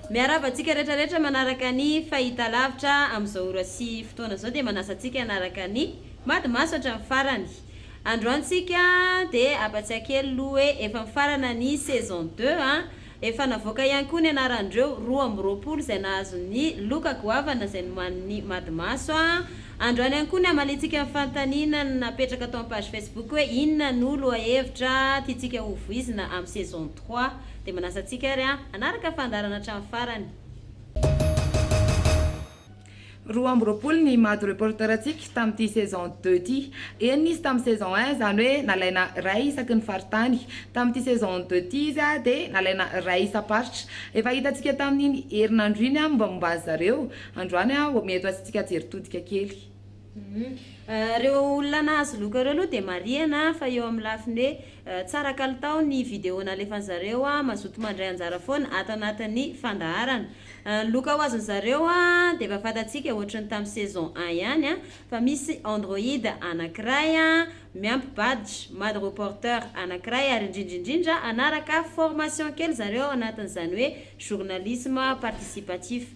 Miarahaba antsika rehetra rehetra manaraka ny fahitalavitra amin'izao ora sy fotoana izao dia manasa antsika hanaraka ny Mady Maso hatramin'ny farany. Androany tsika dia hampatsiahy kely aloha hoe efa mifarana ny saison deux an! Efa navoaka ihany koa ny anaran'ireo roa amby roapolo izay nahazo ny loka goavana izay nomanin'ny Madimaso a! Androany ihany koa ny hamaliantsika ny fanontaniana napetraka tao amin'ny page Facebook hoe inona no lohahevitra tiantsika ho voizina amin'ny saison trois. Dia manasa antsika ary hanaraka fandaharana hatramin'ny farany. Roa amby roapolo ny maha du reporter-ntsika tamin'ity saison deux ity. Enina izy tamin'ny saison un, izany hoe nalaina iray isaky ny faritany. Tamin'ity saison deux ity izy dia nalaina iray isam-paritra. Efa hitantsika tamin'iny herinandro iny ny mombamomba azy zareo. Androany mety ho asantsika jery todika kely. Ireo olona nahazo loka ireo aloha dia marihana fa eo amin'ny lafiny hoe tsara kalitao ny video nalefan'ny zareo, mazoto mandray anjara foana ato anatin'ny fandaharana. Ny loka ho azon'ny zareo dia efa fantatsika ohatry ny tamin'ny saison un ihany fa misy Android anankiray miampy badge Madreporter anankiray ary indrindra indrindra hanaraka formation kely zareo ao anatin'izany hoe journalisme participatif.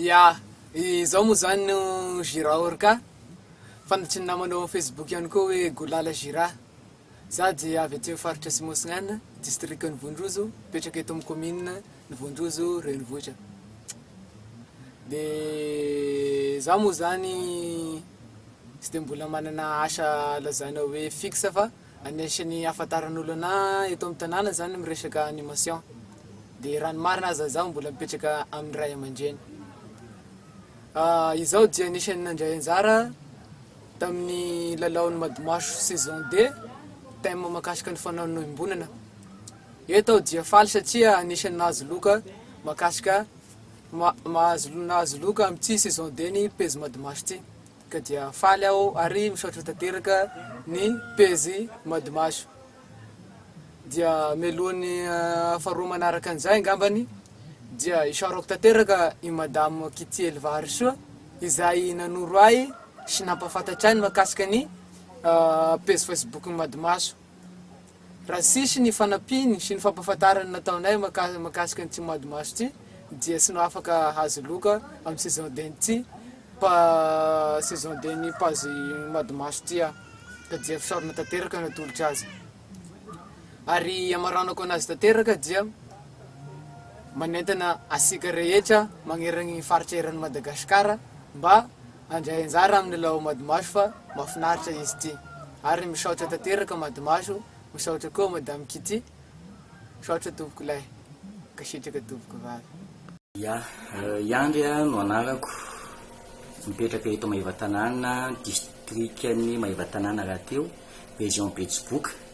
Ya, izao moa zany no Gira Orca, fantatrin'ny namana ao amin'ny Facebook ihany koa hoe Golala Gira. Za dia avy aty amin'ny faritra Atsimo-Atsinanana, distrikan'i Vonrozo, mipetraka eto amin'ny kaominina ny Vonrozo renivohitra. Dia za moa zany tsy dia mbola manana asa lazaina hoe fixe fa. Anisan'ny ahafantaran'olona anah eto amin'ny tanàna izany ny miresaka animation. Dia raha ny marina aza izaho mbola mipetraka amin'ny ray aman-dreny. Izaho dia anisan'ny nandray anjara tamin'ny lalaon'ny Madimaso saison deux, thème mahakasika ny fanamoim-bolana. Eto aho dia faly satria anisan'ny nahazo loka mahakasika, mahazo, nahazo loka amin'ity saison deux-ny pejy Madimaso ity. Ka dia faly aho ary misaotra tanteraka ny pejy Madimaso. Dia mialohan'ny faharoa manaraka an'izay angambany dia isaorako tanteraka i Madame Kitiely Vaharisoa izay nanoro ahy sy nampahafantatra ahy ny mahakasika ny pejy Facebook-n'i Madimaso. Raha tsisy ny fanampiny sy ny fampahafantarana nataonay mahakasika an'ity Madimaso ity dia tsy afaka hahazo loka amin'ny saison den'ity saison den'ny page Madimaso ity aho ka dia fisaorana tanteraka no atolotro azy. Ary amaranako anazy tanteraka dia manentana antsika rehetra magnerana ny faritra eran'i Madagasikara mba Handray anjara amin'ny Lao Madimaso fa mafinaritra izy ity ary misaotra tanteraka Madimaso misaotra koa Madame Kitty misaotra tompoko lahy mankasitraka tompoko vavy. Ya, i Andry no anarako, mipetraka eto Maevatanàna, distrikan'i Maevatanàna rahateo, région Betsiboka.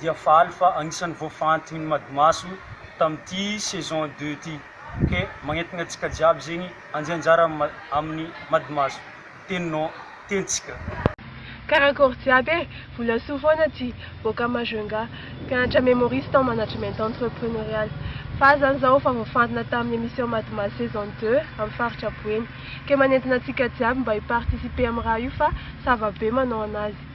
dia faly fa anisan'ny voafantin'ny Madimaso tamin'ity saison deux ity ke magnentana antsika jiaby zegny anjy anjara amin'ny Madimaso teninao tentsika. Karakôry jiaby e! Volasoa foana ty boaka Majunga, mpianatra Memoriste en Management Entrepreneurial. Fa aza zany zaho fa voafantina tamin'ny émission Madimaso saison deux amin'ny faritra Boeny. Ke manentana antsika jiaby mba hi-participer amin'ny raha io fa ça va be manao anazy.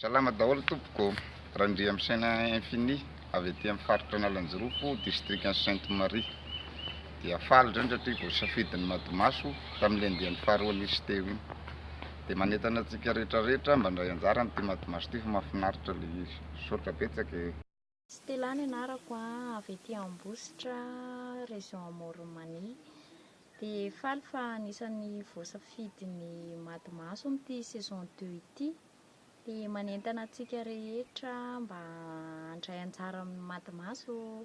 Salama daholo tompoko, Randriamisaina Infini avy aty amin'ny faritra Analanjirofo, distrikan'i Sainte Marie. Dia faly indray satria voasafidy ny Madimaso tamin'ilay andiany faharoa nisy teo iny. Dia manentana antsika rehetra rehetra mba handray anjara amin'ity Madimaso ity fa mahafinaritra ilay izy. Misaotra betsaka e! Stella ny anarako a, avy aty Ambositra, région Amoron'i Mania. Dia faly fa anisan'ny voasafidy ny Mady Maso amin'ity saison deux ity. Dia manentana antsika rehetra mba handray anjara amin'ny Mady Maso ô!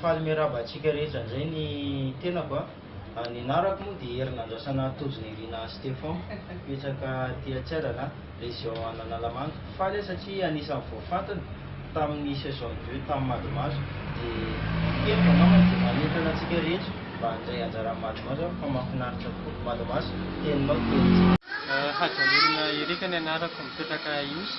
Faly miarahaba antsika rehetra indray ny tenako a. Ny anarako moa dia Herinandrasana Tojonirina Stefan, mipetraka aty Antsiarana, région an'Analamanga. Faly aho satria anisan'ny voafantina tamin'ny saison de jeux tamin'ny Madimaso. Dia heviko angambany dia manentana antsika rehetra mba handray anjara amin'ny Madimaso aho fa mahafinaritra koa. Madimaso, teninao, tenintsika. Hajanirina Eric ny anarako, mipetraka Ihosy.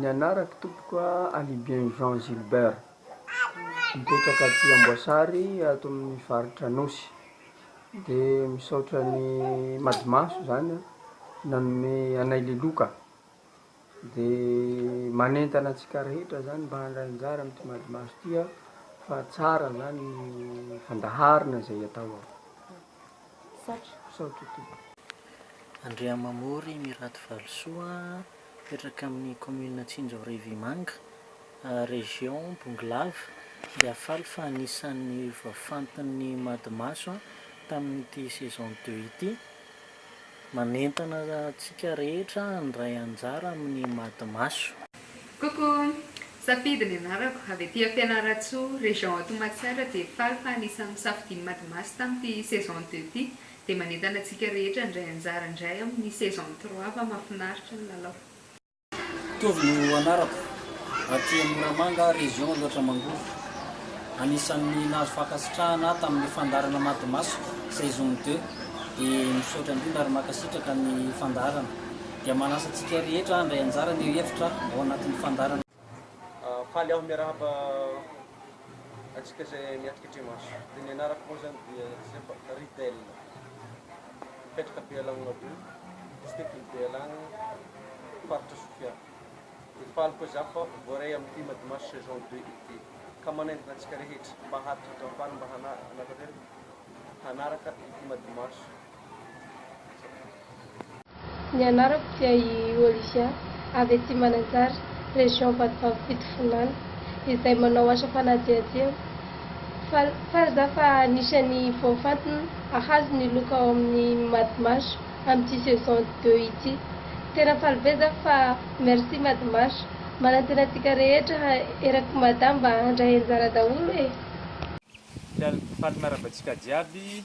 Ny anarako tompoko a, Alibiain Jean Gilbert, mipetraka aty Amboasary ato amin'ny faritra Anosy, de misaotra ny Madimaso zany nanome anay liloka, de manentana antsika rehetra zany mba handray anjara amty Madimaso ty a, fa tsara zany ny fandaharana zay atao ao. Faty, sao toto. Andriamamory Mirado Valosoa, mipetraka amin'ny kaominina Tsinjo Revimanga, région Bongolava, dia faly fa anisan'ny voafantin'ny Madimaso tamin'ity saison deux ity. Manentana antsika rehetra handray anjara amin'ny Madimaso. Coucou! Safidy ny anarako, avy aty Fianarantsoa, région à Tohmatsara dia faly fa anisan'ny nosafidian'i Madimasy tamin'ity saison deux ity dia manentana antsika rehetra handray anjara indray amin'ny saison trois fa mafinaritra ny lalao. Tovo no anarako, aty amin'ny Moramanga, région Aloatra Mangoro. Anisan'ny nahazo fankasitrahana ahy tamin'ny fandaharana Madimasiko saison deux dia misaotra indrindra ary mankasitraka ny fandaharana. dia manasa antsika rehetra handray anjara ny hevitra ao anatin'ny fandaharana. Faly aho miarahaba antsika izay miatrika trémarche. Dia ny anarako moa izany dia Joseph Ridel. Mipetraka Bealagna Adoha, distrikan'i Bealagna, faritra Sofia. Dia faly koa izaho fa voaray amin'ny thème Dimanche saison deux été. Ka manaingoka antsika rehetra mba hahatonga faly mba hanatanteraka hanaraka ny thème Dimanche. Ny anarako dia i Olivia, avy aty Mananjary, région Vatovavy Fitovinany, izay manao asa fanadihadiana. Faly, faly za fa anisan'ny voafantina ahazo ny loka ao amin'ny Madmash amin'ity saison deux ity. Tena faly be za fa merci Madmash. Manantena antsika rehetra erak'i Mada mba handray anjara daholo e! Faly, faly manaraka antsika jiaby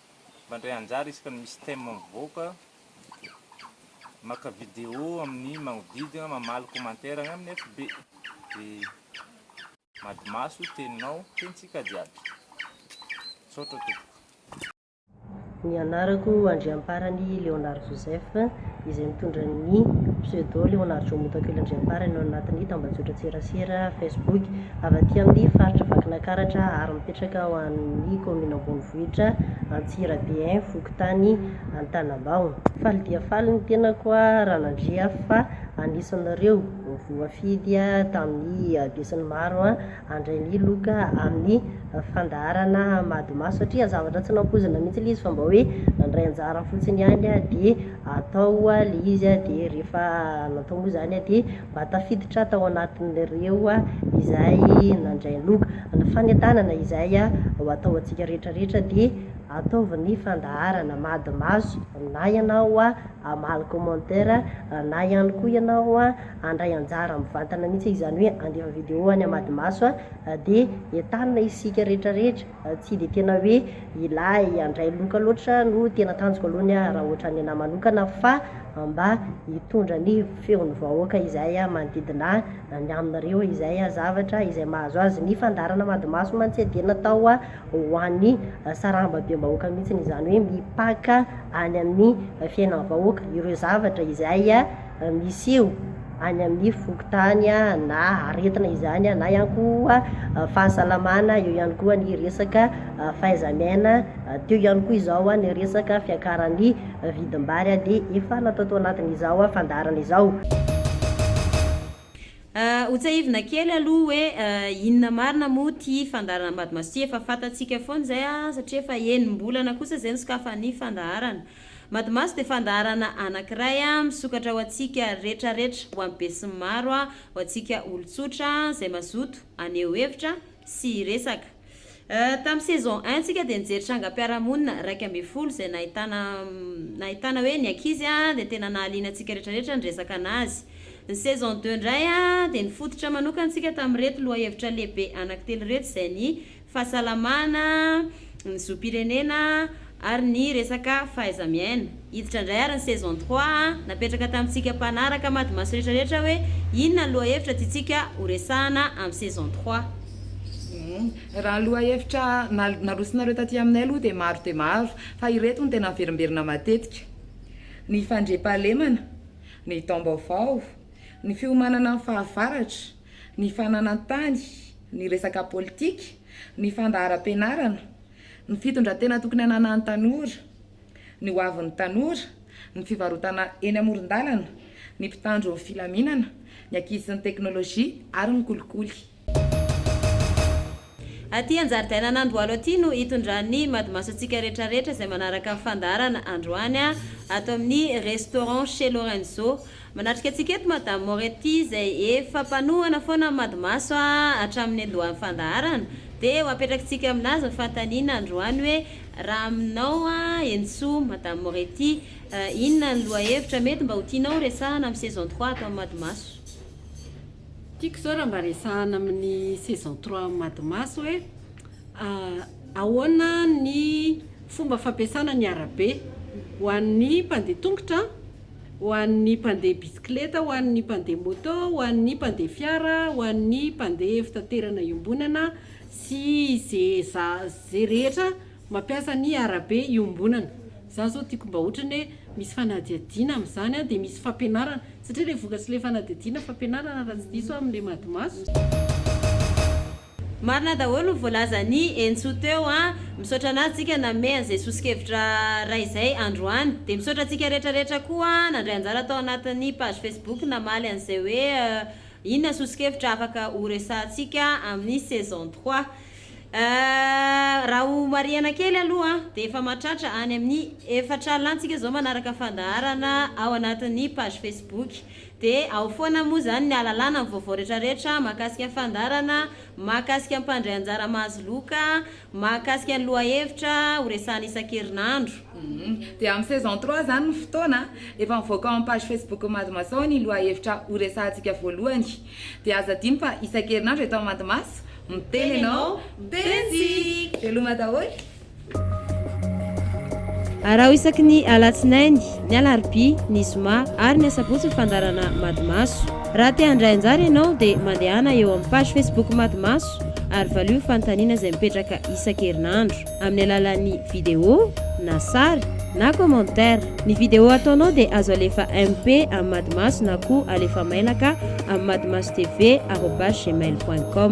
Mandray anjara isaka ny misy thème mivoaka, maka vidéo amin'ny magnodidina, mamaly commentaire agny amin'ny FB. De madimaso teninao, tenitsika jiaby. Misaotra tompoko. Ny anarako Andriamparany Léonard Joseph, izay mitondra ny pseudo Léonard Jomotakely Andriamparany ao anatin'ny tambajotran-tserasera Facebook, avy aty amin'ny faritra Vakinakaratra ary mipetraka ao amin'ny kaominina Ambonivohitra. ambanivohitra Antsirabe un fokontany Antanambao. Faly dia faly ny tenako Ranandria fa anisanareo voafidy tamin'ny besin'ny maro handray ny loka amin'ny fandaharana Madma satria zavatra tsy nampoizina mihitsy ilay izy fa mba hoe nandray anjara fotsiny ihany dia atao ilay izy dia rehefa natao moa izany dia mba tafiditra tao anatin'ireo izay nandray loka. Ny fanentanana izay ho ataontsika rehetra rehetra dia ataovy ny fandaharana mady maso na ianao hamaly commentaire na ihany koa ianao handray anjara mivantana mihitsy izany hoe handefa video any amady maso dia entanina isika rehetra rehetra Tsy dia tena hoe ilahy handray loka loatra no tena tanjoko aloha ny ahy raha ohatra ny anahy manokana fa mba hitondra ny feon'ny vahoaka izay manodidina ahy ny aminareo izay zavatra izay mahazo azy ny fandaharana Madimaso mantsy dia natao ho an'ny sarambabem-bahoaka mihitsy izany hoe mipaka any amin'ny fiainan'ny vahoaka ireo zavatra izay misy eo any amin'ny fokontany na aretina izany na ihany koa fahasalamana, eo ihany koa ny resaka fahaiza-miaina, teo ihany koa izao ny resaka fiakaran'ny vidim-bary dia efa natao tao anatin'izao fandaharana izao. Ho tsahivina kely aloha hoe inona marina moa ity fandaharana Ambadimasiho ity, efa fantatsika foana izay satria efa enim-bolana kosa izay nisokafan'ny fandaharana. Matimaso dia fandaharana anankiray misokatra ho antsika retraretra, ho an'ny besinimaro, ho antsika olon-tsotra izay mazoto haneho hevitra sy hiresaka. Tamin'ny saison un tsika dia nijery trangam-piarahamonina iraika ambin'ny folo izay nahitana nahitana hoe ny ankizy dia tena nahaliana antsika retraretra niresaka anazy. Ny saison deux indray dia nifototra manokana tsika tamin'ireto lohahevitra lehibe anankitelo ireto izay ny fahasalamana, ny zom-pirenena ary ny resaka fahaiza-miaina. Hiditra indray ary ny saison trois a! Napetraka tamintsika mpanaraka Madimaso rehetra rehetra hoe inona ny lohahevitra tiantsika ho resahana amin'ny saison trois. Raha ny lohahevitra narosonareo taty aminay aloha dia maro dia maro fa ireto no tena miverimberina matetika, ny fandriampahalemana, ny taom-baovao, ny fiomanana amin'ny fahavaratra, ny fananan-tany, ny resaka politika, ny fandaharam-pianarana, ny fitondran-tena tokony hananan'ny tanora, ny hoavin'ny tanora, ny fivarotana eny amoron-dalana, ny mpitandro ny filaminana, ny ankizy sy ny teknolojia ary ny kolikoly. Aty an-jaridainan'Andohalo aty no itondran'ny madimaso antsika retraretra izay manaraka ny fandaharana androany ato amin'ny Restaurant Chez Lorenzo. Manatrika antsika eto Madame Moretti izay efa mpanohana foana ny madimaso hatramin'ny niandohan'ny fandaharana dia ho apetrakintsika aminazy ny fanontaniana androany hoe raha aminao Henintsoa Madame Moretti inona ny lohahevitra mety mba ho tianao horesahana amin'ny saison trois ato amin'ny madimaso? Tiako zao raha mba resahana amin'ny saison trois am Madimasy hoe ahoana ny fomba fampiasana ny arabe ho an'ny mpandeha tongotra, ho an'ny mpandeha bisikileta, ho an'ny mpandeha moto, ho an'ny mpandeha fiara, ho an'ny mpandeha fitaterana iombonana sy ze za ze rehetra mampiasa ny arabe iombonana. Za zao tiako mba otrany hoe misy fanadihadiana amin'izany dia misy fampianarana. Satria ilay vokatry ilay fanadihadiana fampianarana raha tsy diso aho amin'ilay madimaso. Marina daholo ny voalazan'i Entso teo an! Misaotra anao Tsika nanome an'izay soso-kevitra iray izay androany. Dia misaotra antsika rehetra rehetra koa nandray anjara tao anatin'ny page Facebook namaly an'izay hoe inona soso-kevitra afaka horesahantsika amin'ny saison trois. Ahh raha ho marihana kely aloha dia efa mahatratra any amin'ny efatra alina tsika zao manaraka fandaharana ao anatin'ny page facebook dia ao foana moa zany ny ahalalana ny vaovao retraretra mahakasika ny fandaharana, mahakasika ny mpandray anjara mahazo loka, mahakasika ny lohahevitra ho resahana isan-kerinandro. Humm dia amin'ny saison trois zany ny fotoana a! Efa mivoaka ao amin'ny page facebook-n'ny Mado Masaho ny lohahevitra ho resahantsika voalohany. Dia aza adino fa isan-kerinandro eto amin'ny Madimas, miteny ianao, miteny isika! Veloma daholo! Araho isaky ny Alatsinainy, ny Alarobia, ny Zoma ary ny Asabotsy ny fandaharana Madimaso. Raha te handray anjara ianao dia mandehana eo amin'ny page Facebook Madimaso ary valio ny fanontaniana izay mipetraka isan-kerinandro. amin'ny alalan'ny video, na sary, na commentaire. Ny video ataonao dia azo alefa MP amin'ny Madimaso na koa alefa mailaka amin'ny madimasotv arobase gmail point com.